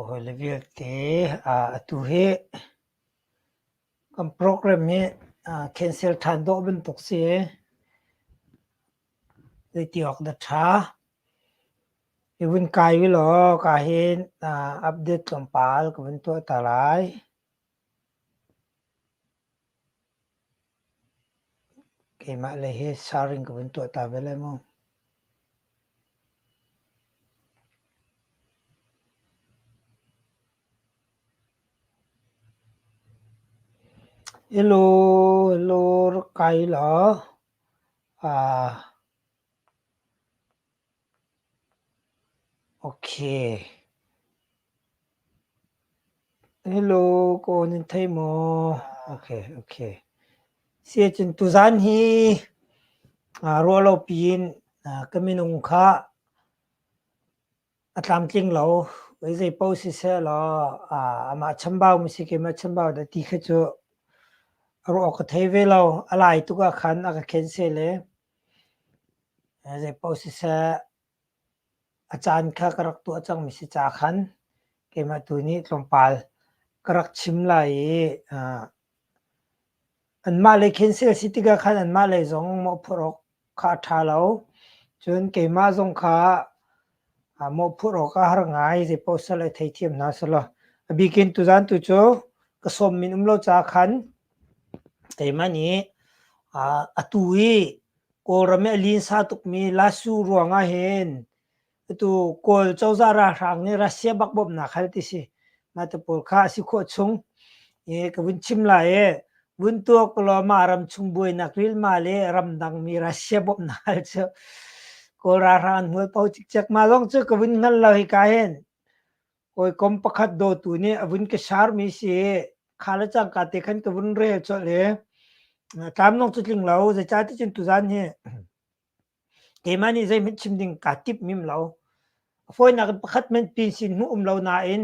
Holi vialte atu hi kan program hi cancel ṭhan dawh bantuk si i zeiti awk dah ṭha. I vun kai ulaw ka hin update tlawmpal ka vun tuahter lai. Keimah le hi saring ka vun tuah ta ve lai maw? Hello, hello, rak kai law. Siacun tuzan hi ruahlopi in ka minung kha a tlamtling lo. Zeipaoh siseh law amah chambau mi si kim a chambau dah ti kha cu ruah awk a thei ve lo. A lai tuk ahkhan a ka khen seh le. Zeipaoh siseh a caan kha ka rak tuah cangmi si ca khan keimah tu nih tlawmpal ka rak chim lai i anmah lei khin si a si tikah khan anmah lei zong mawhphurh awk kha a ṭha lo. Cun keimah zong kha mawhphurh awk a har ngai. Zeipaoh sal a theithiam hna selaw. A bikin tuzan tu cu ka sawmmin um lo caah khan teima nih atu i Kawlram i a linsa tukmi Lasu ruangah hin atu Kawl cozah ralhrang nih Russia bak bawmhnak hal ti si. Mah te pawl kha a si khawh chung i ka vun chim lai i Buntuak Kulawma ramchung buainak rilma le ramdangmi Russia bawmhnak hal cu Kawl ralhrang an hmual po cikcek. Mah lawng cu ka vun hngal lo hika hin. Hawikom pakhat dawtu nih a vun ka sharmi si kha le cangka te khan ka vun rel colh i tlam nong cu tling lo zeicah ti cun tuzan hi keimah nih zeihmanh chim ding kaa timh mim lo. A fawinak in pakhat hmanh pin sin hmuh um lo nain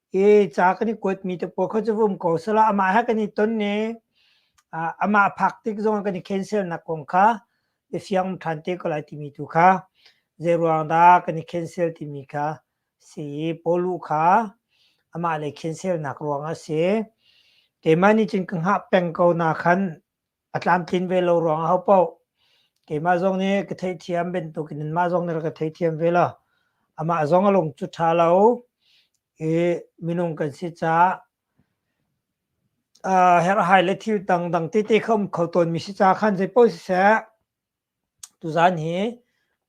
i ca kan i kuatmi te pawl kha cu vum ko sela amah he kan i ton i uh, amah phak tik zong kan i cancelnak kong kha i fiang ṭhan te ko lai timi tu kha zei ruang dah kan i cancel timi kha si i Polu kha amah lei cancelnak ruang a si. Teimah nih cun ka hngah peng ko na khan a tlamtlin ve lo ruang a ho poh keimah zong nih ka theithiam bantukin in mah zong nih rak ka theithiam ve lo amah zong a lung cu ṭha lo i minung kan si caah uh, herhhai le thil dang dang tete kha um kho tawnmi si caah khan zeipaoh siseh Tuzaan hi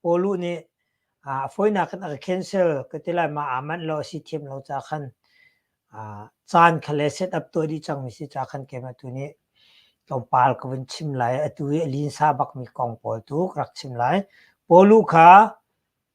Pawlu nih a fawinak in a ka cancel ka ti lai ma aa manh lo a si thiam lo ca khan caan kha le setup tuah dih cangmi si ca khan keimah tu nih tlawmpal ka vun chim lai. Atu i a linsa bakmi kong pawl tu ka rak chim lai. Pawlu kha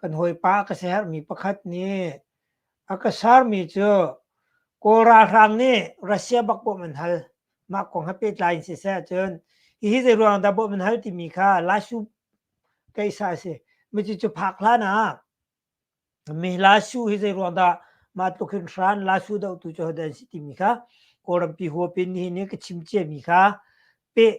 Kan hawipa ka siaherhmi pakhat nih a ka sermi cu Kawl ralhrang nih Russia bak bawmh an hal. Mah kong he pehtlai in siseh cun hihi zeiruangah dah bawmh an hal timi kha Lasu keihsa a si. Cucu phak hlan ah mi Lasu hi zeiruang dah mah tluk hin hran Lasu dohtu cu hodah an si timi kha Kawlrampi huap in nihin i ka chim ciami kha peh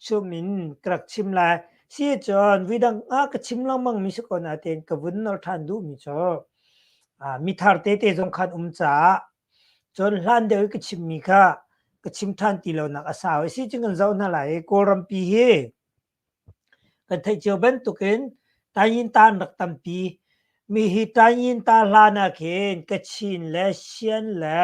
Cum in ka rak chim lai. Sicun vidang ah ka chim lengmangmi si ko nain ka vun nor ṭhan duhmi cu mithar tete zong khan um caah cun hlan deuh i ka chimmi kha ka chim ṭhan ti lonak a sau i sicun kan zoh hna lai i Kawlrampi hi kan theih cio bantukin Taiyintan rak tampi. Mi hi Taiyinta hlan ah khin Kachin le Sien le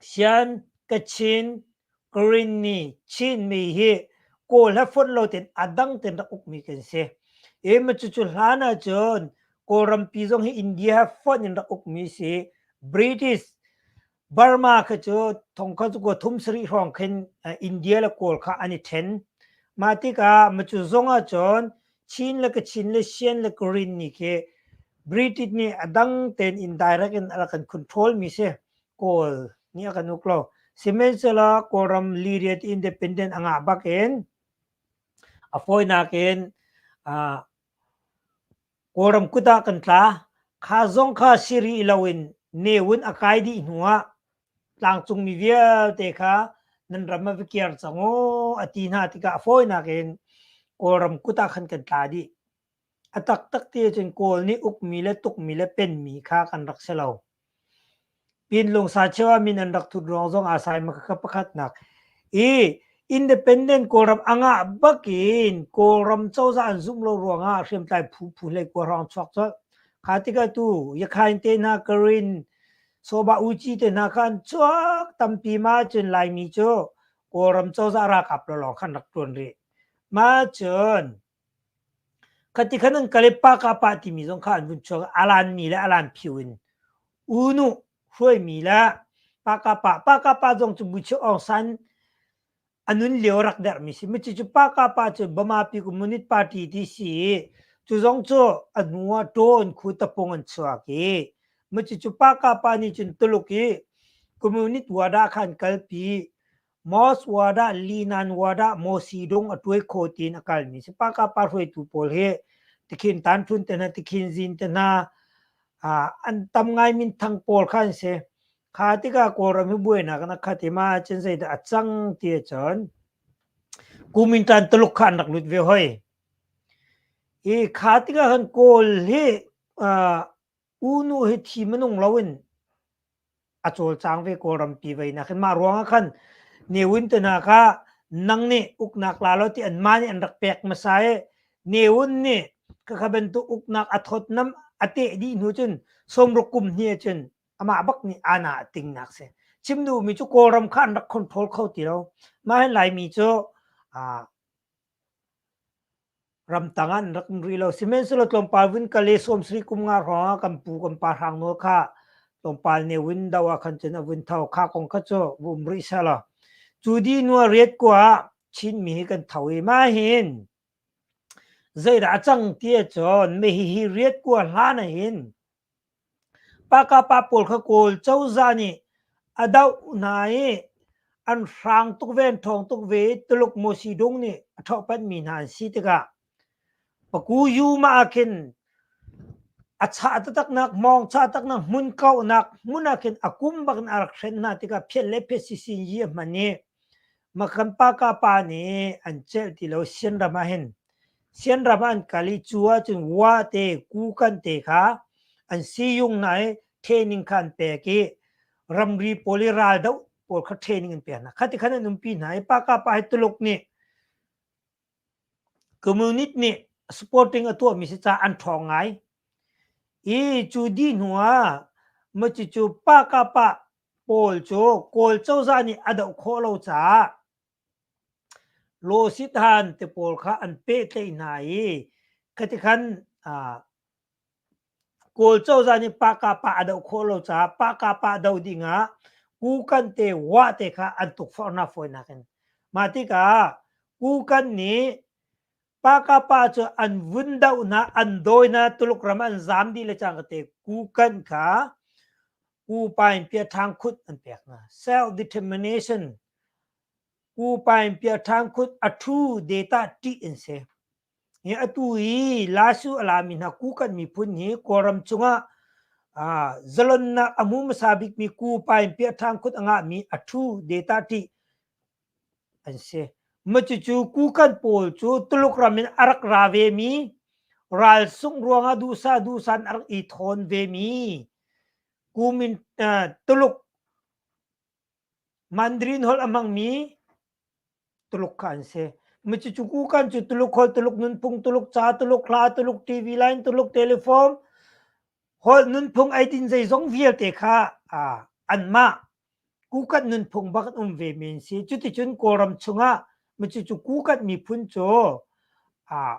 Sian ka chin Karinni Chinmi hi kaw le fon lo tein a dang tein rak ukmi kan si. I cucu hlan ahcun Kawlrampi zong hi India he fon in rak ukmi a si. British Burma kha cu thong kha kuwa thum sarih hrawng khin India le Kawl kha an i ṭhen. Mah tikah cu zong ahcun Chin le Kachin le Sian le Korean ni khi British nih a dang tein indirect in a kan control mi si Kawl nih a kan uk lo. Sihmanhsehlaw Kawlram liriat independent a ngah bak in a fawinak in uh, Kawlram kut ah kan tla kha zong kha siri lo in newun a kai dih hnu ah tlangcungmi vialte kha nan ram ah va kir cang u a ti hna tikah a fawinak in Kawlram kut ah khan kan tla dih. A taktak ti ahcun Kawl nih ukmi le tukmi le penmi kha kan rak si lo. Pinlung sa cheu ah min an rak thut ruang zong aa sai maka pakhatnak i independent Kawlram angah bakin Kawlram cozah an zumh lo ruangah hriamtlai phu phu hlei kuarang chuak cu kha tikah tu Yakhain te hna Karin Soba uci te hna khan chuak tampi ma cun Laimi cu Kawlram cozah ralkap lawlawng khan rak ṭuan rih. Ma cun khati khan an kale pa ka pa timi zong kha an vun chuak alan mi le alan phiu in unu hruai mi le pa ka pa pa ka pa zong cu buchuk ong san a nun lio rak derh mi si. Mici cu pa ka pa cu Bamapi Communist Party ti si i cu zong cu a hnu ah ṭaw in khu tapung an chuak i mici cu pa ka pa nih cun Tuluk i communist wada khan kalpi Moss wada Linan wada Mosi dong a tuai kho tiin a kal mi si pa ka pa hruaitu pawl hi tikhin tanṭun te hna tikhin zin te hna an tam ngai min thang pawl kha an si Kha tikah Kawlram hi buainak in a khat i ma cun zeidah a cang ti ahcun kumin tan Tuluk kha an rak lut ve hoi. I kha tikah khan Kawl hi uh, unu hi thi manung loin a cawlcang ve Kawlram pi vei nak hin mah ruangah khan newin te hna kha nang nih uknak la lo ti an ma nih an rak pek masa e newun nih kakha bantuk uknak a thot nam a te di hnu cun somruk kum hni cun amah bak nih ana a tingnak si chim duhmi cu kawlram kha an rak control kho ti lo mah hin laimi cu ramtang an rak rui lo sihmanhsehlaw tlawmpal vun kale sawmsari kum nga hrawngah kan pu kan pa hrang nawl kha tlawmpal ne win do ah khan cun a vun tho kha kong kha cu vum rih selo cu di nua riat kwa chinmi hi kan tho i ma hin zeidah a cang tia cun me hi hi riat kwa hlan a hin Pakapa pawl kha Kawl cozah nih a doh hna i an hrang tuk ve, an ṭhawng tuk ve i Tuluk Mawsidung nih a ṭhohphanhmi hna an si tikah Pakuyuma ah khin a chah taktaknak, hmawng chah taktaknak, hmun kauhnak hmun ah khin a kum bak in a rak hrenh hna tikah phiat le phiatsisinyi a hman i Makan Pakapa nih an celh ti lo. Sian ram ah hin Sianram ah an kal i cu ahcun wa te, kukan te kha an siyung hna i training kha an pek i ramri pawl i raldoh pawl kha training an pek hna. Khati khan an umpi hna i Paka pa hi Tuluk nih community nih supporting a tuahmi si caah an ṭhawng ngai. I cu dih hnu ah maci cu Paka pa pawl cu Kawl cozah nih a doh khawh lo caah Losithan te pawl kha an pehtlaih hna i khati khan Kawl cozah nih Pahkapa a doh khawh lo caah Pahkapa doh ding ah Kukan te Wah te kha an tukforhnak fawinak in mah tikah Kukan nih Pahkapa cu an vun dohnak an dawinak Tuluk ram an zaam dih le cang te Kukan kha Ku Pain Pia Ṭhang Khut an pek hna self-determination Pu Paing piaṭhang kut a ṭhu detah ṭih an si. Hi atu i Lasu a lami hna Kukan miphun hi Kawlram cungah aa zalonnak a hmu hmasa bikmi Pu Paing piaṭhang kut a ngahmi a ṭhu detah ṭih an si. Cucu Kukan pawl cu Tuluk ram in a rak ra vemi, ralsungh ruangah duhsah duhsah in a rak i ṭhawn vemi, kumin, Tuluk Mandarin holh a hmangmi Tuluk kha an si. Macucuku kan cu Tuluk holh, Tuluk nunphung, Tuluk ca, Tuluk hla, Tuluk TV line, Tuluk telephone, holh nunphung eidin zeizong vialte kha uh, anmah kukat nunphung bak um ve men si. Cuticun Kawlram chungah macucu kukat miphun cu uh,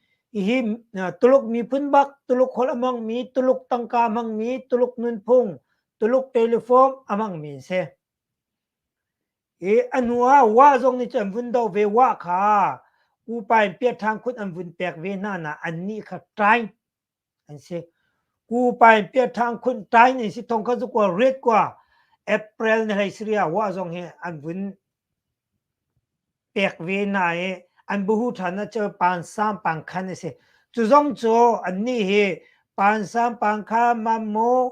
Ihi Tuluk miphun bak Tuluk holh a hmangmi Tuluk tangka a hmangmi Tuluk nunphung Tuluk teleform a hmangmi an si. I a hnu ah wa zong nih cun an vun do ve wa kha upa in piah ṭhan khut an vun pek ve hna na an nih kha ṭaing an si. Ku pain pia ṭhang khun ṭai ni si thong kha zu kua ret kua April ni hlei sria wa zong hi an vun pek ve na i an buhu ṭhan na cu pan sam pang khan a si. Cu zong cu annih hi pan sam pang kha mammaw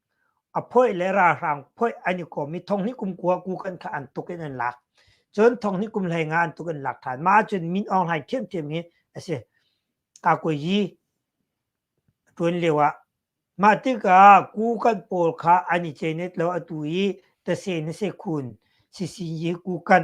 a phoih le ralhrang phoih an i kom i thonghni kum kua ku kan kha an tuk in an lak cun thonghni kum hlei nga an tuk in lak than ma cun min aung hlain thiamthiam hi a si ka koi yi tuan lio ah mah tikah ku kan pawl kha an i chenet lo atu i ta se ne se khun si sin yi ku kan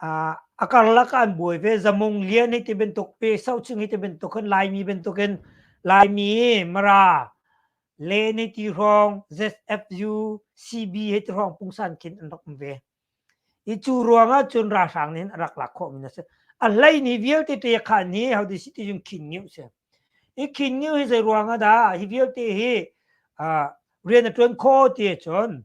A karlak ah an buai ve. Zamung lian hi ti bantuk pi, saucing hi ti bantuk hin Laimi bantukin Laimi, Mara, Len hi ti hrawng, ZFU, CB hi ti hrawng pungsan khin an rak um ve. Hi cu ruangah cun ralhrang nih hin a rak lak khawhmi a si. A hleihnih vialte ṭekhan hi how di si ti cun khingiu a si. Hi khingiu hi zei ruangah dah? Hi vialte hi rian a ṭuan khawh ti ahcun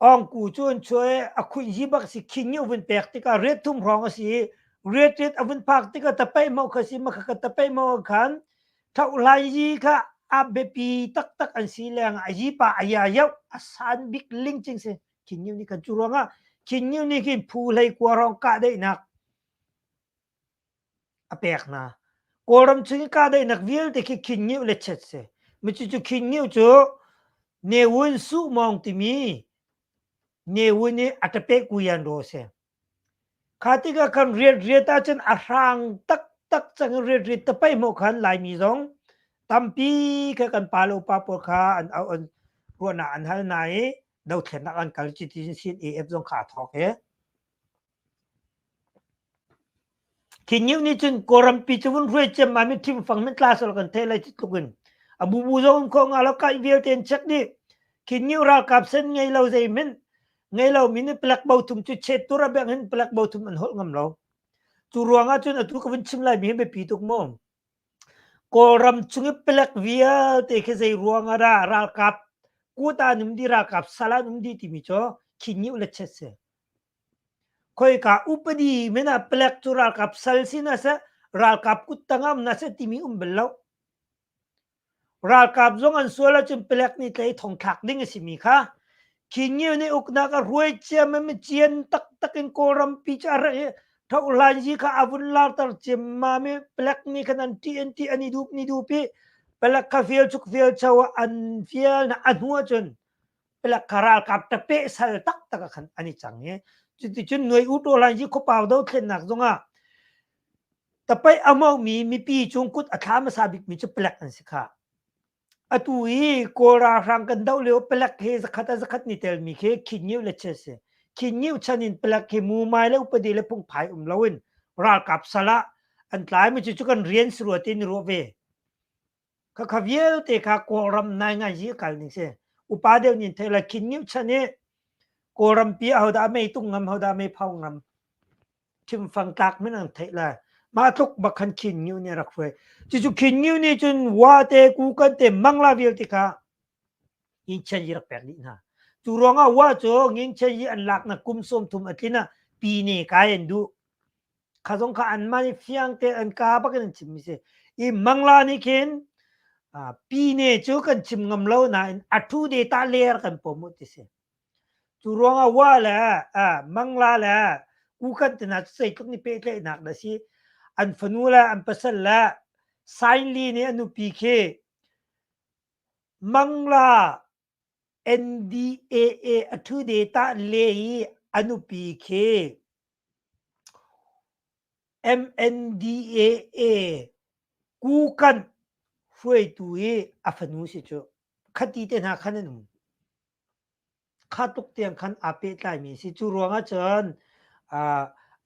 Ongku cu an chuai a khuin hi bak si khing i vun pek tikah riat thum hrawng a si i riat riat a vun phak tikah tapeih mo kha si makha ka tapeih mo ah khan thohlai yi kha a biapi taktak an si leng a yi pa a ya yauh a san bik ling cing si khin nih kan cu ruangah khin nih khin phu hlei kua rong kah daihnak a pek hna. Kawlram chung i kahdaihnak vialte khi Khinngeu le chet si. Cucu Khinngeu cu Ne Wun Suh Mawng timi Ne Wun i a ṭapeh kuyan ro a si. Kha tikah kan riat riat ahcun a hrang taktak cang i riat riat tapei hmuh khan Laimi zong tampi kha kan pa le upa pawl kha an au an ruahnak an hal hna i dothlennak an kal cuti sin AF zong kha a thawk i Khinyu nih cun Kawlrampi cu vun hruai ciam ah mit thimfang mit tla sal kan theih lai ti tluk in a bubu zong um khawh hnga lo kaih vialte in check dih. Khinyu ralkap sen ngei lo zeihmanh ngei lo mi nih palek bo thum cu chet tur a beng hin palek bo thum an holh ngam lo. Cu ruang ah cun atu ka vun chim lai mi hi biapi tuk maw? Kawlram chung i palek vialte khi zei ruang ah dah ralkap kuta an um dih, ralkap sal ah an um dih timi cu khinyu le chet si. Khoika upadi men ah palek cu ralkap sal sin ah seh ralkap kuttang ah na seh timi um bal lo. Ralkap zong an sual ahcun palek nih tlaih thong thlak ding a simi kha Khingiu nih uknak a ruai ciam i mi cian taktak in Kawlrampi cu a rak i thohlanzi kha a vun larter ciammam i palek nih khan an ṭih an ṭih an i dup an i dup i palek kha fial chuk fial cho ah an fial na a hnu ahcun pelak ka ralkap te pe sal tak tak khan ani chang e cuti cun noi u to lan ji khopau do thlen nak zongah tapai amau mi mipi chung kut athla masa bik mi chu pelak an si kha atu i kawlra hrang kan do leo pelak he zakhat a zakhat ni tel mi khe khin ngiu le che se khin ngiu chanin pelak he mu mai le upadi le pung phai um loin ralkap sala an tlai mi chu chu kan rian sruatin ro ve Khakha vialte kha Kawlram nai ngaizi a kal ning si. Upa deuh nin thei la khin ngim chan i Kawlram pi a hodah mei tung ngam hodah mei phau ngam thimfang tlak min ang thei la ma tluk bakhan khin ngiu ni rak hruai cucu khin ngiu ni cun wa te ku kan te mangla vialte kha in chen yi rak pek ni hna tu ruangah wa cu ngin chen yi an lak na kum som thum a tlin a pi ne kai an du kha zong kha anmah nih fiang tein an ka bak in an chimmi si i mangla nih khin pine cu kan chim ngam lo nain a thu de ta ler kan pom u ti si cu ruangah wa le mangla le u kan tina cu zeitluk ni pehtlaihnak da si an fanu le an pasal le sainli nih a nupi khi mangla NDAA a ṭhu detah le i a nupi khi MNDAA kukan hruaitu i a fanu si cu khati te hna khan an um kha tuk tiang khan aa pehtlaimi si cu ruangah cun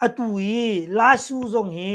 atu i Lasu zong hi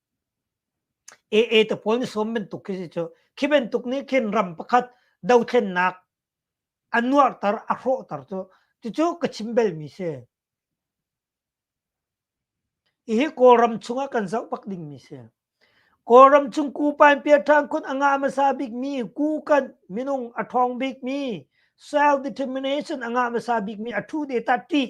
AA te pawl nih sawm bantuk khi si cu khi bantuk nih khin ram pakhat dothlennak a nuarhter a hrawhter cu cucu ka chim belmi si hihi kawlram chungah kan zoh bak dingmi si kawlram chung ku painpiar ṭhang khun a ngah hmasa bikmi kukan minung a ṭhawng bikmi self determination a ngah hmasa bikmi a ṭhu de ta ṭih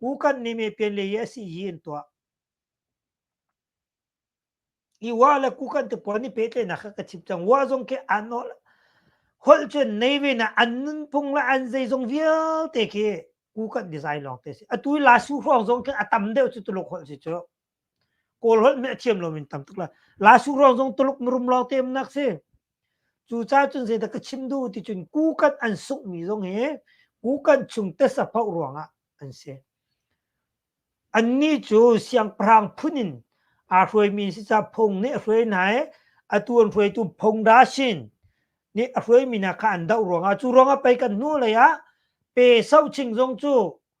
kukan ni me pen le a si hi an tuah i wa le kukan tu pon ni pe tle na ka chip chang wa zong ke an no hol chun nei ve na an nun phung la an zai zong vial te ke kukan design long te si atui la su hrawng zong ke atam deuh chu tuluk hol si chu Kawl holh nih a thiam lo in tam tuk la. La Su ruang zong Tuluk mirum lawng te nak si. Cu ca cun zeidah ka chim duh ti cun kukan an sungh mi zong hi kukan chung tesa phoh ruang ah an si. Annih cu siangpahrang phun in aa hruai mi si ca phung nih a hruai hna i atu an hruaitu Phongda Sin nih a hruai mi hna kha an doh ruang ah cu ruang ah pei kan hnu lei ah pe soching zong cu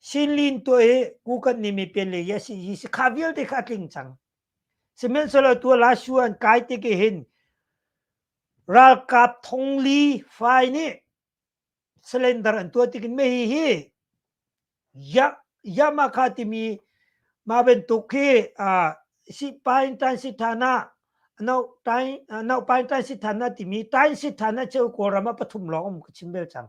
Sinlin tuah hi kukan ni mi pen le yes hi si kha vialte kha tling cang. Sihmanhsehlaw tua la shuan kai te ke hin ralkap thongli fai nih slender an tua tikin me hi hi ya Yamaha timi ma bentuk khi uh, si pain tan si thana anau tain anau pain tan si thana timi tain si thana cheu ko rama pathum lawng ka chim bel chang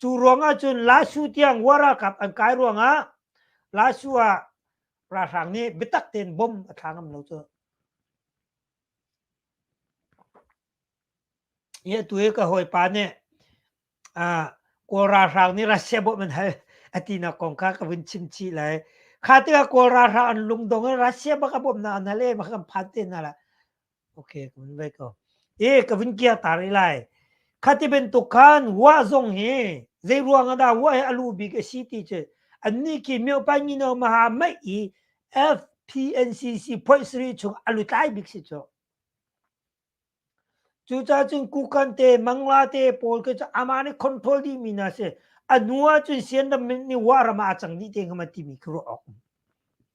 Cu ruangah cun Lasu tiang waralkap an kai ruangah Lasu ah ralhrang nih biatak tein bom a thla ngam lo cu. I atu i ka hawipa nih uh, Kawl ralhrang nih Russia bawmh an hal a tinak kong kha ka vun chim chih lai. Kha tikah Kawl ralhrang an lungdong in Russia bak a bawmhnak an hal i bak kan phan te hna la. Okay, ka vun vai ko. E ka vun kia ta ri lai. Khati bantuk khan wa zong hi zei ruang ah dah wa hi a lu bik a si ti cu an ni ki myo pa ngi no ma ha mai i FPNCC phoi sri chung a lu tlai bik si chu. Cu ca cun kukan te, mangla te, pawl ke cu ama ne control di mi na se. A nua cun sian ram ni wa rama a cang ni te ngama ti mi kru ok.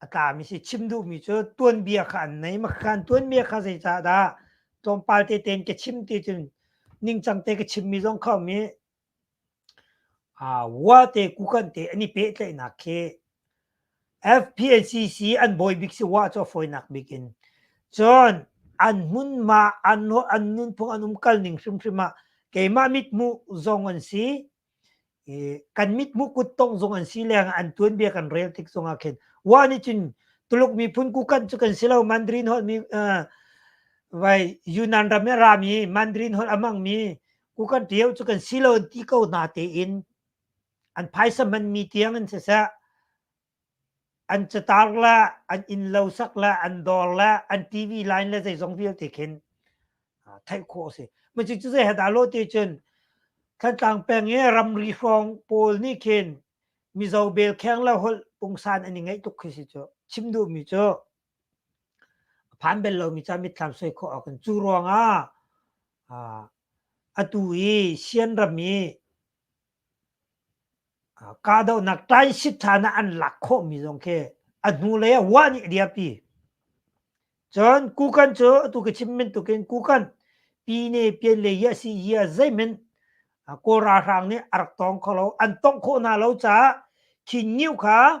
a tlami si chim duhmi cu tuanbia kha an nei maka khan tuanbia kha zeicah dah tlawmpal te ten ka chim ti cun ningcang te ka chimmi zong kha um i wa te kukan te an i pehtlaihnak khi FPLCC an bawi bik si wa cu foinak bik in cun an hmun ma an an nun phung an um kal ning hrimhrim ah keimah mit hmuh zong an si kan mithmuh kuttong zong an si leng an tuanbia kan rel tik zong ah khin wa nih cun Tuluk miphun kukan cu kan si lo Mandarin holh mi vai Yunnan ram i ram i Mandarin holh amang mi kukan tio cu kan si lo ti ko na te in an phaisa man mi tiang an si sah an catar le an inn lo sak le an dor le an tv line le zeizong vialte khin theih khawh a si ma cu cu zei hata lo te cun thantlang peng i ramri hrawng pawl nih khin mizo bel kheng le holh pungsan an i ngaih tuk khi si cu chim duhmi cu phan bel lomi ca mitthlam soi khawh awk in cu ruangah atu i sian ram i Kahdohnak transit chan ah an lak khawhmi zong khi a hnulei ah wah nih a dirpi. Cun kukan cu atu ka chim bantukin kukan pyine pyine le a si i a zeimen Kawl ralhrang nih a rak tong kho lo. An tongh khawh hna lo caah khi ngiu kha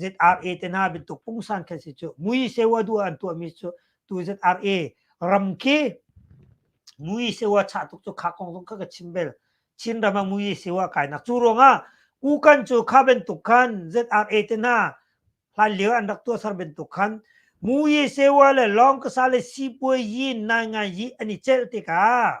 ZRA te na bantuk pungsan kha si cu mui sewa du an tuah mi cu tu ZRA ram khi mui sewa cha tuk cu kha kong zong ka ka chim bel Chin ram a mui sewa kai nak cu ruang ah u kan cu kha bantuk khan ZRA te na hlan lio an rak tuah sar bantuk khan mui sewa le long ka sa le sipuai yi nai ngai yi ani chel te ka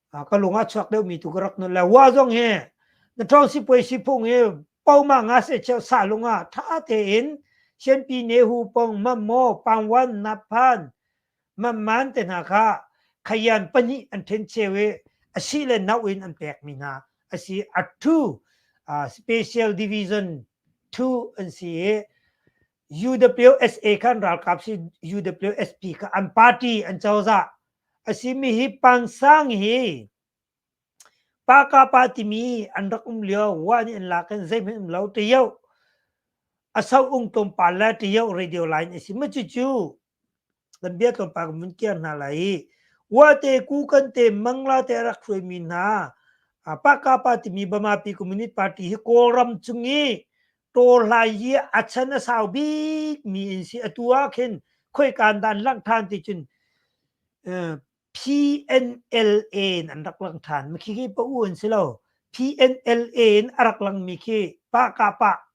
ka lung a chuak deuh mi tu ka rak nun le wa zong hi na trong si puai si phung hi pauma nga se cheu sa lung a tha te in sianpi ne hu pong mam mo pangwan naphan mam man te hna kha khayan pani an then chewe asi le nau in an pek mi hna asi a two uh, special division 2 an si UWSA kha an ralkap si UWSP kha an party an cozah a simi hi pansang hi paka pa timi an rak um lio wa ni an lak in zeihmanh um lo te yo a sau ung tom pa la te yo radio line a si ma cu cu nan bia tlawmpal kan vun kiar hna lai i uate ku kan te mangla te rak hruai mi hna paka pa timi bamapi community party hi kawlram chung i to hlai hi a chan a sau bik mi in si atu ah khin khoi kan dan lang than ti cun PNLA in an rak lang than mi khi pa u an si lo PNLA in a rak lang mi khi pa ka pa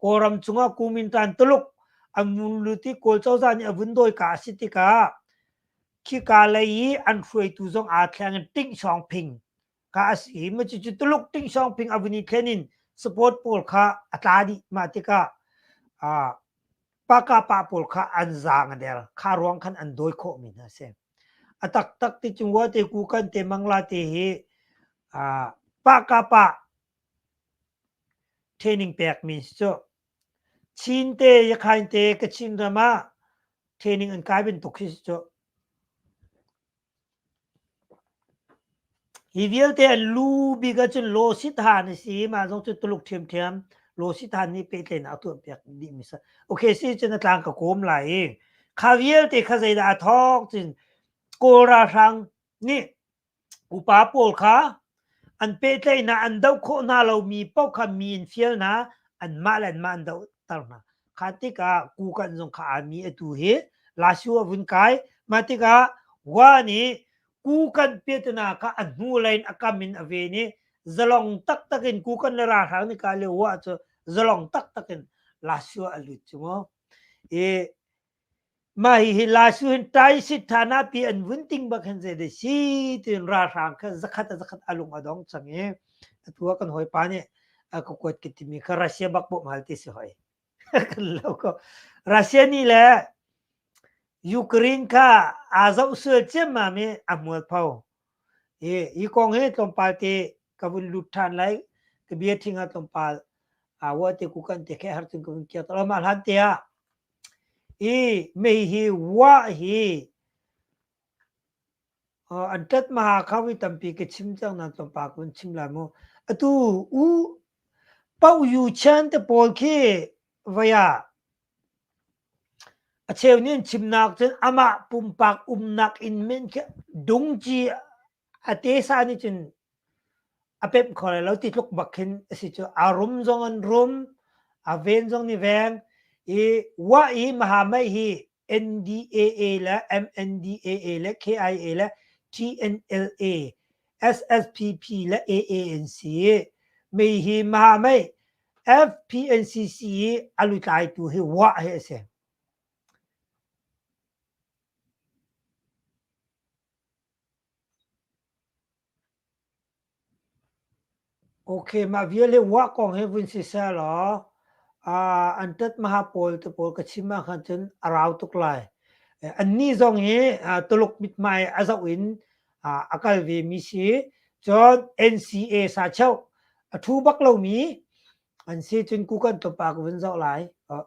Kawlram cungah kumin tan tuluk an mun luti kawl cozah nih a vun dawi ka a si tikah khika lei i an hruaitu zong aa thleng in Ting Song Phing ka a si hi ma cucu tuluk Ting Song Phing a vun i thlen in support pawl kha a tla dih mah tikah uh, pakapa pawl kha an zang a der kha ruang khan an dawi khawh mi hna si a taktak ti chung wa te ku kan te mangla te hi uh, pakapa Training pekmi si cu. Chin te, Yakhain te, Kachin ram ah training an kai bantuk hi si cu. Hi vialte an lu bik ahcun Law Sithan a si. Mah zong cu Tuluk ṭhiamṭhiam Law Sithan nih pehtlaihnak a tuah piak dihmi a si. Okay, si cun a tlang ka kawm lai i kha vialte kha zeidah a thawk cun Kawl ralhrang nih Upa pawl kha an pehtlaihnak an doh khawh hna lomi paoh kha mi in fial hna, anmah le anmah an dohter hna. Kha tikah kukan zong kha aa mi atu hi lasu a vun kai. Mah tikah Wa nih kukan petna kha a hnulei in a kam in a ven i zalong taktak in kukan le ralhrang nih kaa lio Wa cu zalong taktak in lasu ah a lut cu mu. I Mah hihi Laisu hin Taisik Thanapi an vun ting bak hin zeidah si tiin ralhrang kha zakhat a zakhat a lung a dong cang i atu ah kan hawipa nih a ka kuat ka timi kha Russia bak poh mahal ti si hoi. kan lo ko. Russia nih le Ukraine kha aa zoh sual ciammam i a hmual pho. I, i kong hi tlawmpal ti ka vun lut than lai ka bia thinga tom pal a wa te ku kan te khe har tun kun kia to ma hlan te a i me hi wa hi an tat ma kha wi tampi ke chim chang na tom pa kun chim la mo atu u pau yu chan te pol khi vaya a cheu nin chim nak chun ama pumpak um nak in men khi dungji a tesa nih cun a pemh kho lai lo ti tluk bak khin a si cu a rum zong an rum a ven zong nih veng i wa i mahamai hi NDAA le MNDAA le KIA le TNLA SSPP le AA an si mi hi mahamai FPNCC i a lutlaitu hi wa hi a si Okay, mah vial hi uah kong hi vun si seh law, ah, an tat maha pawl te pawl ka chim ahkhan cun a rau tuk lai. Eh, annih zong hi, ah, Tuluk mithmai a zoh in, ah, a kal ve mi si. Cun NCA sa cheuh, a thu bak lomi an si cun kukan tupa ka vun zoh lai. Oh.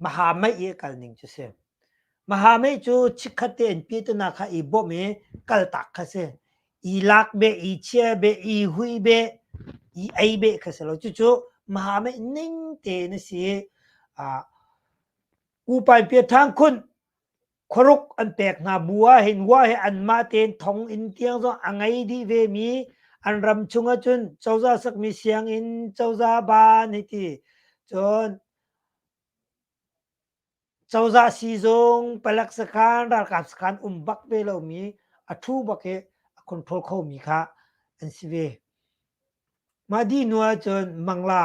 Maha mei i kal ning cu si. Maha mei cu chikkhat tein piatunak kha i bawmh i kaltak kha si. I lak beh, i chia beh, i hui beh, i ei beh kha si lo. Cucu maha mei ning tein a si i, uh, Upain Piathang khun khuaruk an pek hna bu ah hin hua he anmah tein thong in tiang zong a ngei dih ve mi an ram chung ah cun cozah sakmi sianginn cozah ban hi ti cun cozah sizung palak sakhan ralkap sakhan um bak ve lo mi a thu bak he a control kho mi kha an si ve mah di nu ah cun mangla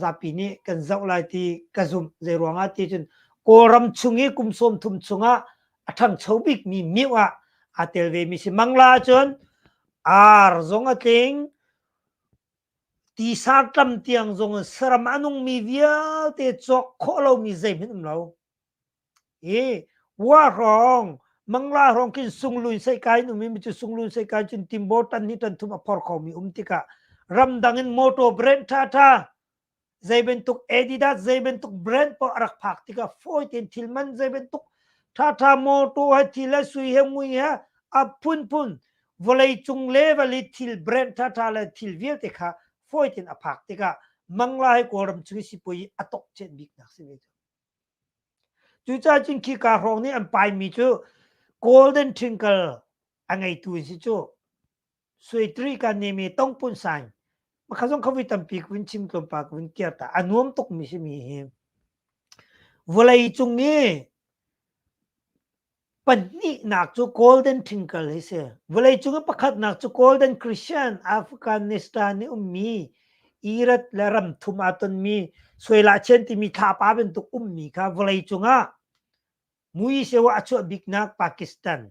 zapi nih kan zoh lai ti ka zumh zeiruangah ti cun kawlram chung i kum sawm thum chungah a ṭhangcho bikmi miu ah aa tel ve mi si mangla cun ar zong a tling tisar tlam tiang zong in saram a nungmi vialte cawk khawh lomi zeihmanh um lo i wa hrawng mangla hrawng khin sunglun seikai num i micu sunglun seikai cun timbor tan ni ton thum a phor kho mi um tikah ramdang in motor brand tha tha zei bantuk adidas zei bantuk brand pa rak phak tikah fawi ten thil man zei bantuk tha tha motor he thil he sui he ngui he a phun phun vawlei cung le vali thil brand tha tha le thil vialte kha fawi ten a phak tikah mangla he kawlram chung i sipui atok chet bik nak si ve cu Cucaah cun khi kaa hrawng nih an paimi cu golden twinkle a ngeitu an si cu. Suitri ka nem i tong pun sain makha zong kha vui tampi ka vun chim tlawmpal ka vun kir ta. A nuam tukmi simi hi vawlei cung i Pahnihnak cu Golden Twinkle hi si. Vawleicung in pakhatnak cu Golden Christian Afghanistan i ummi Irak le ram thum aa tonmi suailahcian timi thlapa bantuk ummi kha vawleicung ah Mui Sewa a chuah biknak Pakistan.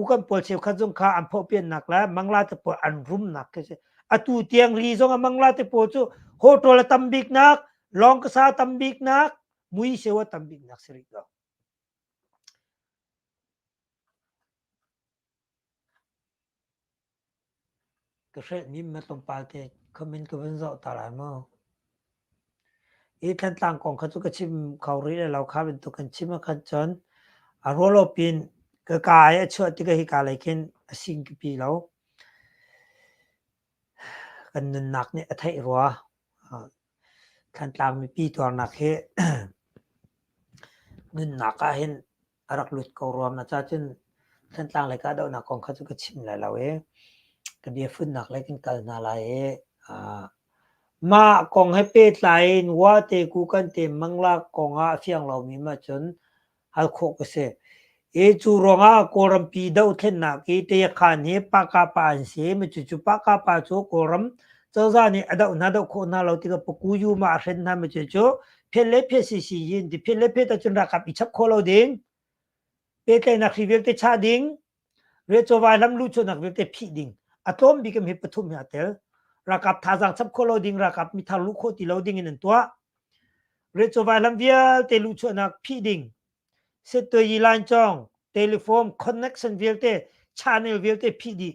u kan pawl cheukhat zong kha an phawhpiannak le mangla te pawl an rumnak khi si atu tiang ri zong a mangla te pawl cu hotel a tam bik nak long kasa tam bik nak mui seu a tam bik nak si rih lo Ka hrehmi na tlawmpal te comment ka vun zoh ta lai maw? Hi Thantlang kong kha cu ka chim kho rih le lo kha bantuk kan chim ahkhan cun a rual lo pin ka ka i a chuah tikah hika lei khin a sing pipi lo. Kan nunnak nih a theih rua. Thantlang mipi tuarnak hi nunnak ah hin a rak lut ko ruam na ca cun Thantlang lei kahdohnak kong kha cu ka chim lai lo i ka biafunnak lei kan kal hna lai i mah kong he pehtlai in wate ku kan te mangla kong ah a fiang lomi ma cun hal khawh ka si i cu ruangah kawlrampi dohthlennak i tayakhan hi paka pa an si mi cu cu paka pa cu kawlram cozah nih a doh hna doh khawh hna lo tikah puku yu ma a hren hna mi cu cu phet le phet si si yin ti phet le phet ahcun rakap i chap kho lo ding pehtlaihnak hri vialte chah ding re chawva lam lu chunak vialte phih ding a tlawm bik hi pathum hi a tel rakap thazang chap kho lo ding rakap mi thar lu kho ti lo ding in an tuah re chawva lam vialte lu chuahnak phih ding set to yi line chong telephone connection vialte channel vialte phih dih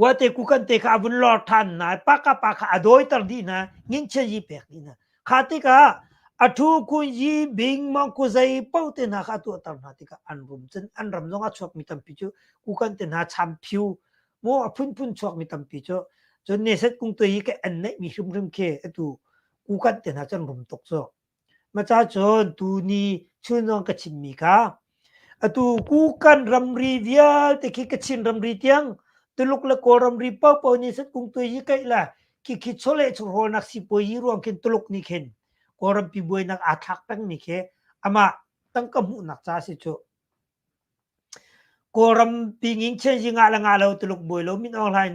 Wate kukan te kha a vun lor ṭhan hna i paka pa kha a dawiter dih hna, nginchia yi pek dih hna. Kha tikah a ṭhu kun yi bing mangkuzei paoh te hna kha a tuahter hna tikah an rum. Cun an ram zong a chuakmi tampi cu kukan te hna cham phiu mu a phunphun chuakmi tampi cu. Cun Neset kung tuai i ka en neihmi hrimhrim khi atu kukan te hna cu an rum tuk cu. Maca cun tuni chunawng ka chimmi kha atu kukan ramri vialte khi Kachin ramri tiang Tuluk le Kawl ramri paohpaoh nih san kung tuai hi kaih le khikhi chawleh chungrolnak sipuazi ruang khin Tuluk nih khin Kawlrampi buainak aa thlak pengmi khi amah tangka hmuhnak ca a si cuh. Kawlrampi ngingchen zingah le ngah lo Tuluk buai lo min aw hlain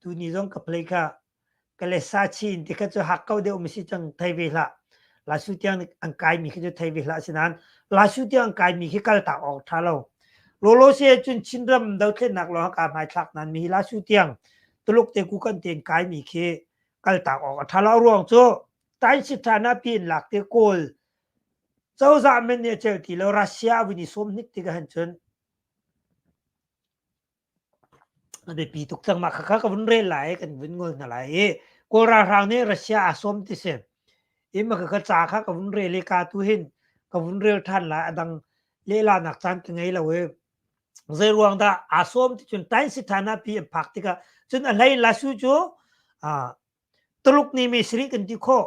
Tuni zong ka play kha ka le sa chin ti kha cu hak ko deuh mi si cang thei ve hlah. La su tiang an kai mi khi cu thei ve hlah sinan la su tiang an kai mi khi kal tak ok tha lo. Lo lo se cun Chin ram do thlen nak lo ka mai thlak nan mi la su tiang tuluk te ku kan ten kai mi khi kal tak ok tha lo ruang cu tain si tha na pin lak te kawl cozah men ne chel ti lo Russia wini som hnik ti ka han chun A biapi tuk cang. Mah khakha ka vun rel lai i kan vun ngol hna lai i Kawl ralhrang nih Russia aa sawm ti si. I mah khakha ca kha ka vun rel i ka tu hin ka vun rel ṭhan lai. A dang lehlarnak caan ka ngei lo i zeiruang dah aa sawm ti cun Tain Sithana pi an phak tikah cun a hlei Lasu cu aa Tuluk ni mi sarih kan ti khawh.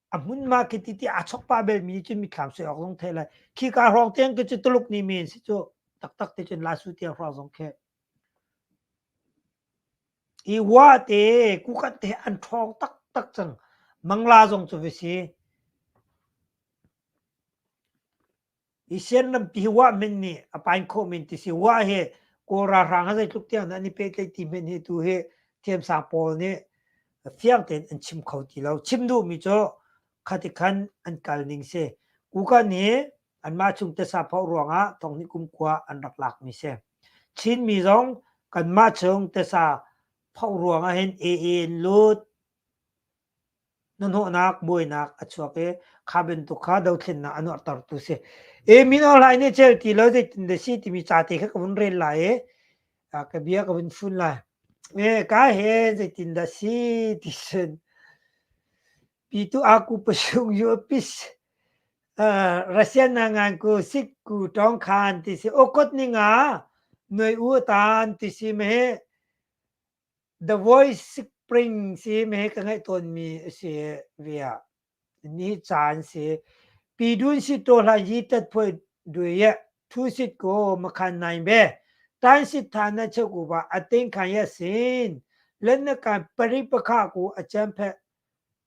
a hmunma khi ti ti a chok pa belmi cun mithlam soi awk zong thei lai khi ka hrawng tiang cu tuluk ni men si cu taktak te cun lasu tiang hrawng zong khe i wa te kukat te an ṭhawng taktak cang mangla zong cu visi i sen lampi hi wah min nih a pain khawh min ti si wah hi kawl ralhrang ha zeitluk tiang dah an i pehtlaih ti men hi tu hi thiamsang pawl nih fiang tein an chim kho ti lo chim duhmi cu khati khan an kal ning si kukan hi anmah chung tesa phoh ruangah thongni kumkua an rak lakmi si chinmi zong kanmah chung tesa phoh ruangah hin aa in lut Hnahnawhnak buainak a chuak i kha bantuk kha dothlennak a nuarhtertu si. E min orhlai nih cel ti lo zeitindah si timi cate kha ka vun rel lai i a ka bia ka vun fun lai. E ka he zeitindah si ti cun pitu aku pasung yu pis uh, Russian na ngan ku sit ku tong khan ti si okot ninga nuai u tan ti si me The Voice Spring si me ka ngaih tawnmi a si ve ah ni caan si pi dun si to hla yi tat phoi dui ye thu sit ko makhan nai be tan sit tha na che ku ba ating khan ya sin len na kan pari pakha ku achan phe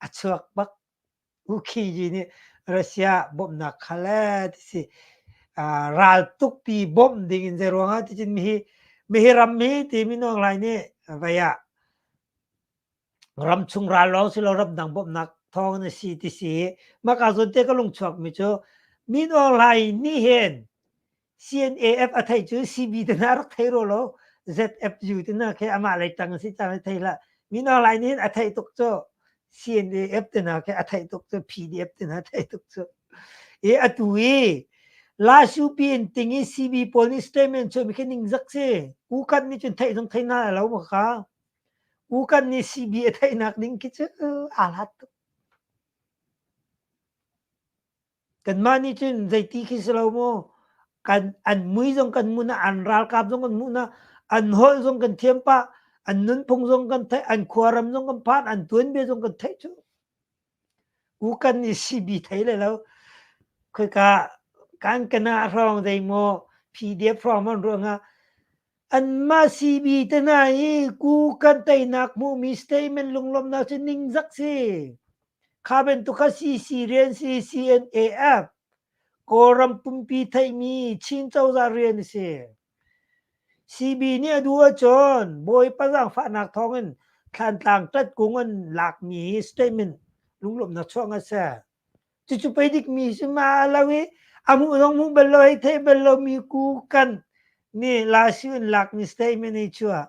a chuak bak. U Kyi Yi nih Russia bawmhnak kha le ti si uh, raltuk pi bawmh ding in zei ruangah ti cun mihi mihi ram mi timi nuang lai nih vai ah ram chung ral lawng si lo ram dang bawmhnak thawng na si ti si maka zun te ka lung chuak mi cu mi nuang lai ni hen CNAF a theih cu CB te hna rak thei rua law ZFU te hna khi amah lei tang si cang thei la min online in a theih tuk cu CNAF te hna khi a theih tuk cu PDF te hna theih tuk cu e atu i Lashu pin ting i CB pawl nih statement cu mi khi ningzak si ukan nih cun theih zong thei na lo ma ka ukan nih CB a theihnak ding khi cu aa hlat tuk Kanmah nih cun zeiti khi si lo maw kan an mui zong kan hmu na an ralkap zong kan hmuh na an holh zong kan thiam pah an nunphung zong kan theih an khuaram zong kan phan an tuanbia zong kan theih cu u kan i sibi thei lai lo khoika kan kana hrawng zei maw pdf hrawng man ruangah Anmah CB te hna hi ku kan teinak hmuhmi statement lunglawmhnak cu ningzak si. Kha bantuk kha CC rian si CNAF Kawlram pumpi theihmi Chin cozah rian a si. CB nih a duh ahcun Bawipa zaangfahnak thawngin Thlantlang tat kung an lakmi statement lunglawmhnak chuah a si. Cucu pei dik mi si ma lo i a mu zong mu bal lo hei thei bal lo mi ku kan nih la si un lak mi statement ei chua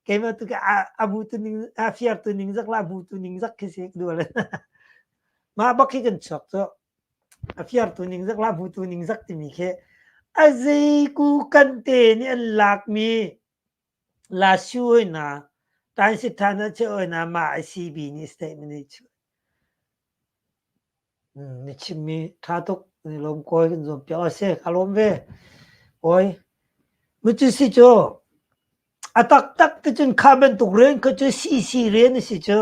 keima tu ke a mu tu ning a fiar tu ning zak la mu tu ning zak khi sek du le ma bak khi kan chok to a fiar tu ning zak la mu tu ning zak timi khi a zei ku kan te ni an lak mi La Su hawinak, Tansit Than a cheu hawinak mah asi bini statement i chuh. Hmm, ni chimmi ṭha tuk, ni lawm kawi kan zuam piak. O se, ka lawm ve. Kawi, mu cu si cu, a taktak te cun kha bantuk rian kha cu CC rian a si cu.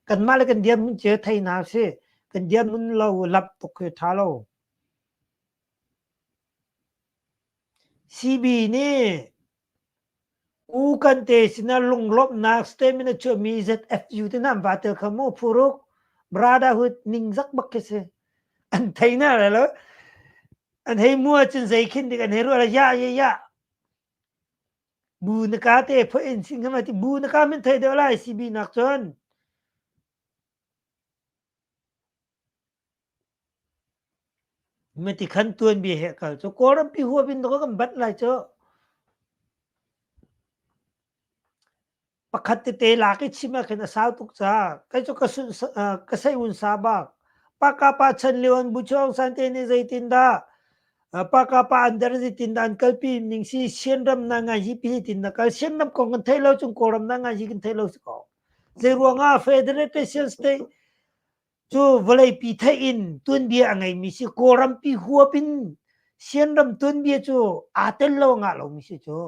Kanmah le kan diam cu theihna si. Kan diam nun lo, lap tuk hi ṭha lo. Sibi nih u kan te sinah lunglawmhnak statement a chuahmi ZFU te nan vaa tel kho maw? Phuruk brotherhood ningzak bak khi si. An thei na le lo. An hei mu ahcun zei khin dik an hei ruah lo. Ya, ye, ya. Bu na ka te phoh in sing hama ti bu na ka min thei deuh lai sibi nak cun. Mitikhan tuanbia he kal cu Kawlrampi huapin tawk kan banh lai cu. Pakhat tete lak i chim ahkhin a sau tuk ca. Kei cu ka sun ka seihun sa bak. Paka pa chan leon bu chuang san te ne zeitin dah paka pa andar zitin da an kalpi ning si sian ram na ngai hi pi tin na kal sian ram kong kan thei lo chung kawram na ngai hi kan thei lo si ko. Zei ruang ah Federation State Cu vawleipi theih in tuanbia a ngeimi si Kawlrampi huap in Sianram tuanbia cu aa tel lo ngah lomi si cu.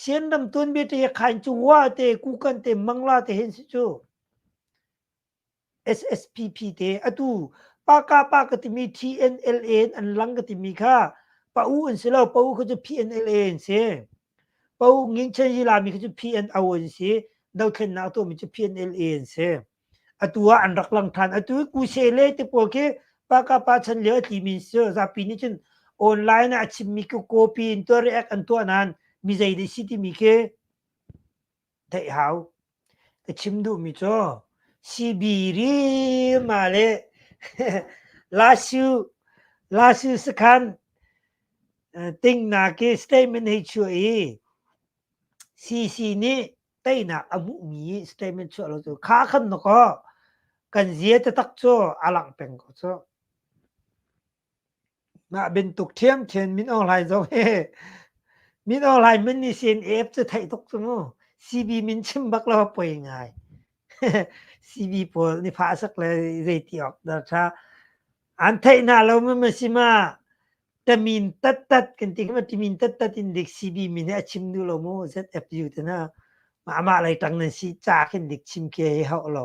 Sianram tuanbia te khain cu wa te kukan te mangla te hin si cu SSPP te atu paka pa ka timi TNLA an lang ka timi kha pa u an si lo pa u kha cu PNLA an si. Po Ngin Chen Zilami khi cu PNO an si. Dothlennak a tuahmi cu PNLA an si. Atu ah an rak lang ṭhan. Atu i Kusele te pawl khi Paka pa chan lio a tlimi an si. Zapi nih cun online ah a chimmi cu copy in tuah react an tuah nain mi zei dei si timi khi Theih hau. Ka chim duhmi cu Sibirima le Lasu, Lasu sakhan tingnak i statement hei chuah i CC nih teinak a hmuhmi statement chuah lo cu kha khan na kaw kan zia taktak cu a langh peng ko cu. Mah bantuk ṭhiamṭhiam min aw hlai zoh hi min aw hlai min nih CNF cu theih tuk cu mu. CB min chim bak lo poi ngai. CB pawl nih fah sak le zeiti awk dah ṭha. An theih hna lo mu ma si ma tamin tattat kan ti ma timin tattat in dik CB min hi a chim duh lo mu ZFU te na. Ma amah lei ṭang nan si ca khin dik chim kia hi hauh lo.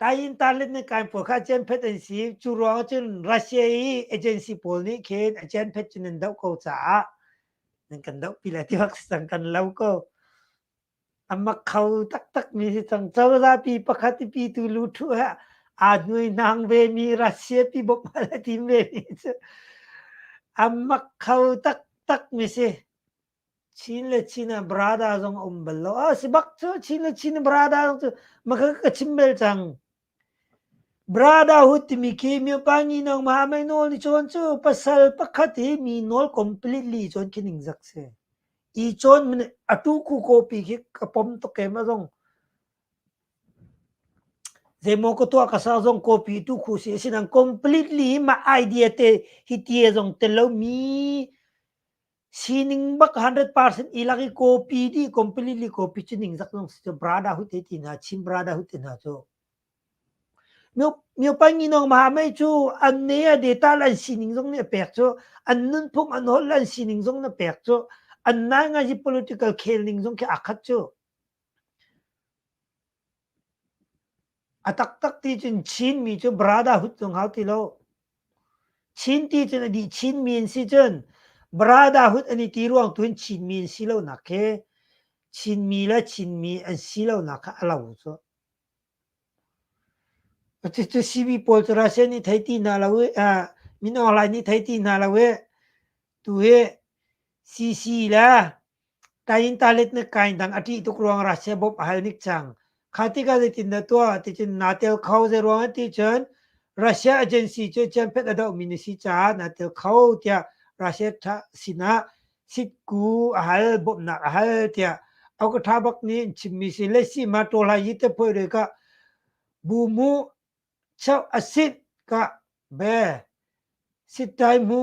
Kayin tarlet ne kain pol kha chen phet an si cu ruang cun Russia i agency pawl nih khin a chen phet cun an doh ko caah nan kan doh pi la ti bak si cang kan lo ko amak kho taktak mi si cang cozah pi pakhat pi tu lu thu he aa nuai nang ve mi Russia pi bop ma la tim ve mi cu amak kho tak tak mi si Chin le Chin ah brada zong a um bal lo. Ah, si bak cu Chin le Chin brada zong cu maka ka chim bel cang. Brada hu timi khi mi pa ngi nong maha mai nawl ni chon cu pasal pakhat hi mi nawl completely chon khi ning zak se. I chon mene atu ku kopi khi ka pom to kem a zong. Zemo ko tua ka sa zong kopi tu khu si sinang completely hi ma idea te hi tie zong te lo mi Sining bak hundred percent i lak i kawpi dih completely kawpi cu ningzak zong si cu brada hut te ti hna chin brada hut te hna cu myo myo pa ngi nong ma mei cu an ne a data lan sining zong nih a pek cu an nunphung an hol lan sining zong na pek cu an nai ngai i political khel ning zong khi a khat cu A taktak ti cun Chinmi cu brotherhood cu hngau ti lo. Chin ti cun a dih Chinmi an si cun brotherhood an i ti ruang tu hin Chinmi an si lonak khi Chinmi le Chinmi an si lonak kha a lo cu. Cucu CV pawl cu Russia nih thei ti hna lo i, uh, min online nih thei ti hna lo i, tu hi CC le Taintalet na kain dang a ṭih tuk ruangah sebop a hal nik cang. Kha tikah zeitin na tuah ticun naa tel kho. Zeiruangah ticun Russia agency cu ciamphet a dohmi na si caah naa tel kho tiah Russia ṭha sinah sitku a hal, bawmhnak a hal tiah Auk ṭha bak nih an chimmi si. Le si ma ṭawlai hi te phoih re kah bu mu cheuh a sit kah be sit tai mu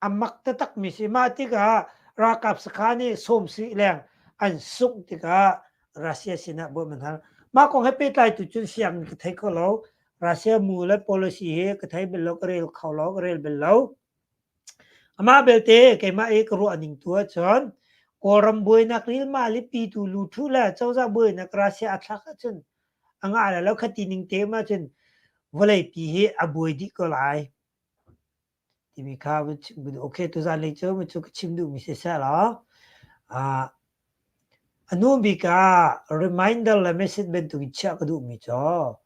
a mak taktakmi si ma tikah ralkap sakha nih sawmsih leng an sungh tikah Russia sinah buam an hal mah kong he pehtlai tu cun siangin ka thei kho lo Russia mu le policy hi ka thei bel lo ka rel kho lo ka rel bel lo amah belte keimah i ka ruah ning tu ahcun kawlram buainak lilma lipi tu lu thu le cozah buainak Russia a thlak ahcun anga ala lo khati ning te ma cun vawlei pi hi a buai dih ko lai timi kha okay tuzan lei cu mi cu ka chim duhmi si seh law a hnu bik ah reminder le message bantuk in chiah ka duhmi cu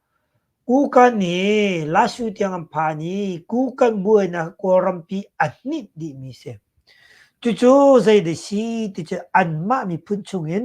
kukan i lasu tiang an phan i kukan buainak kawlrampi a hnit dihmi si cucu zei de si ti cu anmah miphun chungin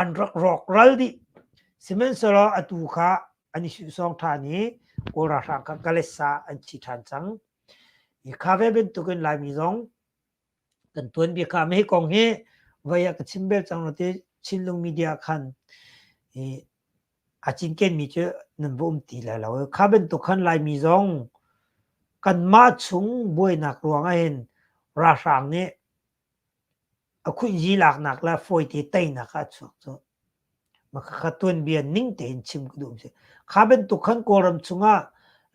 an rak rawk ral dih sihmanhsehlaw atu kha an i sawng ṭhan i kawl ralhrang kha Kalesa an thi ṭhan cang i kha ve bantukin Laimi zong kan tuanbia kha me kong hi vai ah ka chim bel cang lo te Chinlung media khan i a cinken mi cu nan va um ti lai lo kha bantuk khan Laimi zong kanmah chung buainak ruangah hin ralhrang nih A khuiyi laknak le fawite teinak ah a chuak cu. Makha tuanbia ning tein chim ka duh mi si. Kha bantuk khan Kawlram chungah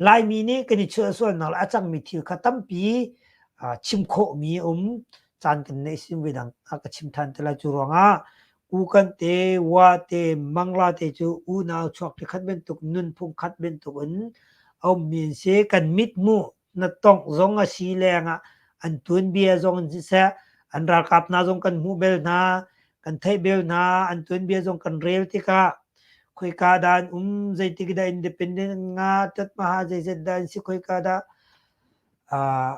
Laimi nih kan i chuah sualnak le a cangmi thil kha tampi aa chim khawhmi a um. Caan kan neih sim ve dang a ka chim than te lai. Cu ruangah Ukan te, Wa te, Mangla te cu unau chuak te khat bantuk, nunphung khat bantuk in a ummi an si. Kan mithmuh Na tongh zong a si lengah an tuanbia zong in siseh, an ralkap hna zong kan hmuh bel hna, kan theih bel hna, an tuanbia zong kan rel tikah khoika dah an um, zeitik dah independent an ngah, tatmaha zeiset dah an si, khoika dah uh,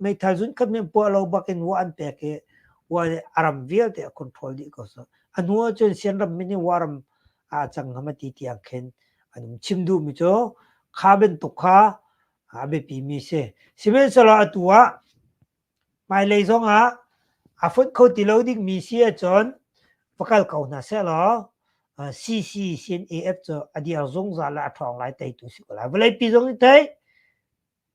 meithal zunkhat nih puah lo bakin wa an pek i wa nih a ram vialte a control dih ko so a hnu ah cun sian ram min i wa ram a cang ngam a ti tiang khin an um chim duh mi cu kha bantuk kha a biapi mi si sihmanhsehlaw atu ah hmailei zong ah a fonh kho ti lo ding mi si ahcun va kal ko hna seh law CC sin AF cu a dir zungzal le a ṭhawng lai tei tu si ko lai vawleipi zong i tei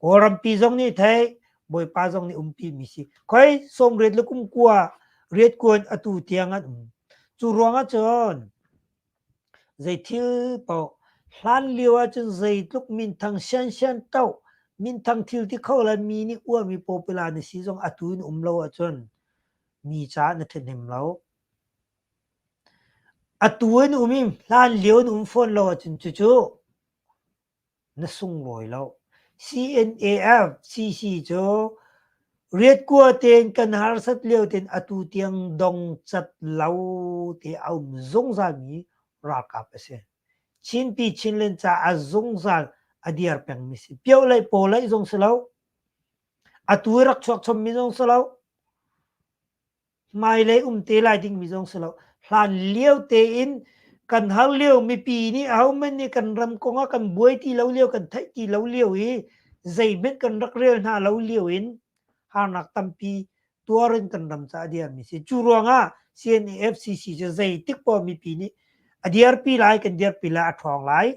Kawlrampi zong nih thei Bawipa zong nih umpi mi si. Khoi somriat le kumkua riat kuan atu tiang an um. Cu ruangah cun zei thil po hlan lio ahcun zeitluk minthang siansian to minthang thil ti kho la mi nih uar mi popular na si zong atu in um lo ahcun mi ca na then hnem lo. Atu in um i hlan lio in um fawn lo ahcun cucu Na sunglawi loh. CNAF CC cu riatkua tein kan harsat lio tein atu tiang dong cat lo te a um zungzalmi ralkap a si. Chinpi Chinland caah zungzal a dir pengmi si. Pioh lei paw lei zong si lo. Atu i rak chuak chommi zong si lo. hmailei um te lai dingmi zong si lo hlan lio tein kan har lio mipi nih ahohmanh nih kan ram kong a kan buai ti lo lio kan theih ti lo lio i zeihmanh kan rak rel hna lo lio in harnak tampi tuar in kan ram ca a diarmi si cu ruangah CNAFCC cu zeitik po mipi nih a diarpi lai kan diarpi lai a ṭhawng lai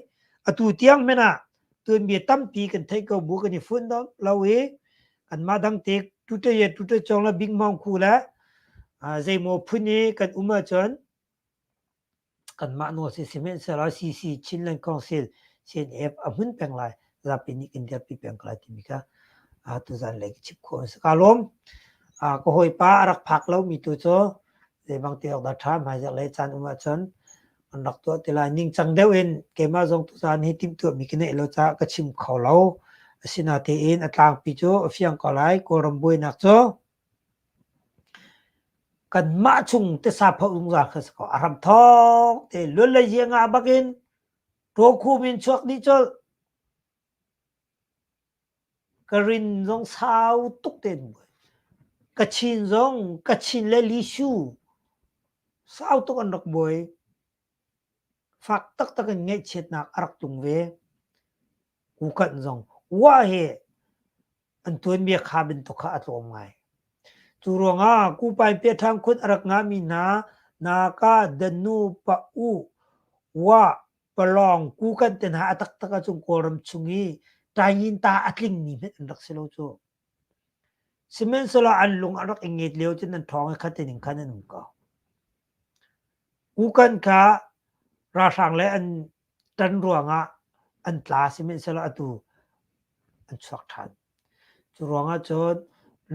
atu tiang hmanh ah tuanbia tampi kan thei ko bu kan i fun lo i kanmah dang te tuta ye tuta chong la bing mong ku la zeimaw phun i kan um ahcun kanmah nu si simen sela cc chinland council cnf a mun peng lai zapi nih kan dirpi peng ko lai timi ka tuzan lei chip kho an ka lom ka hoi pa arak phak lo mi tu chu zeibang te ok da tha mai za le chan um ahcun an rak tuah ti lai ningcang deuh in keimah zong tuzaan hi timhtuahmi ka neih lo caah ka chim kho lo asinatein a tlangpi cu a fiang ko lai kawlram buainak cu kanmah chung tesa pha zungzal kha sako a ram thong te luan le zianga bakin to khu min chuak ni chol Ka rin zong sau tuk te nawn. Ka chin zong ka chin le lisu sau tuk an rak buai. Fak taktak in ngaihchiatnak a rak tlung ve. Kukan zong wah he an tuanbia kha bantuk kha a tlawm ngai. Cu ruangah Kupai Piaṭhang khun a rak ngahmi hna, naka, danu, pa, u, wa, palawng kukan te hna a taktak a cung kawlram chung i taingin ta a tlingmi hmet an rak si lo cu sihmanhsehlaw an lung an rak i nget lio cun an thawng i khat ning khan an um ko kukan kha ralhrang le an tan ruangah an tla sihmanhsehlaw atu an chuak ṭhan cu ruangah cun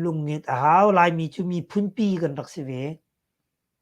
lungnget a hau laimi cu miphunpi kan rak si ve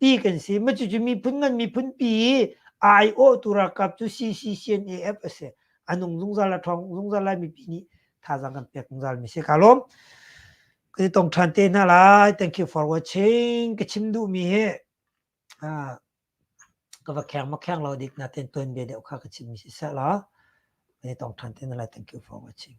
ti kan si ma cucu miphun ngan miphun pi ai awh tu rakap cu CCCNAF a si anung zungzal la thong zungzal lai mipi nih thazang kan pek zungzal mi se ka lom ka tong than te na la thank you for watching ka chim du mi he a ka va kheng ma kheng lo dik na ten ton bia deu kha ka chim mi si sa la ka tong than te na la thank you for watching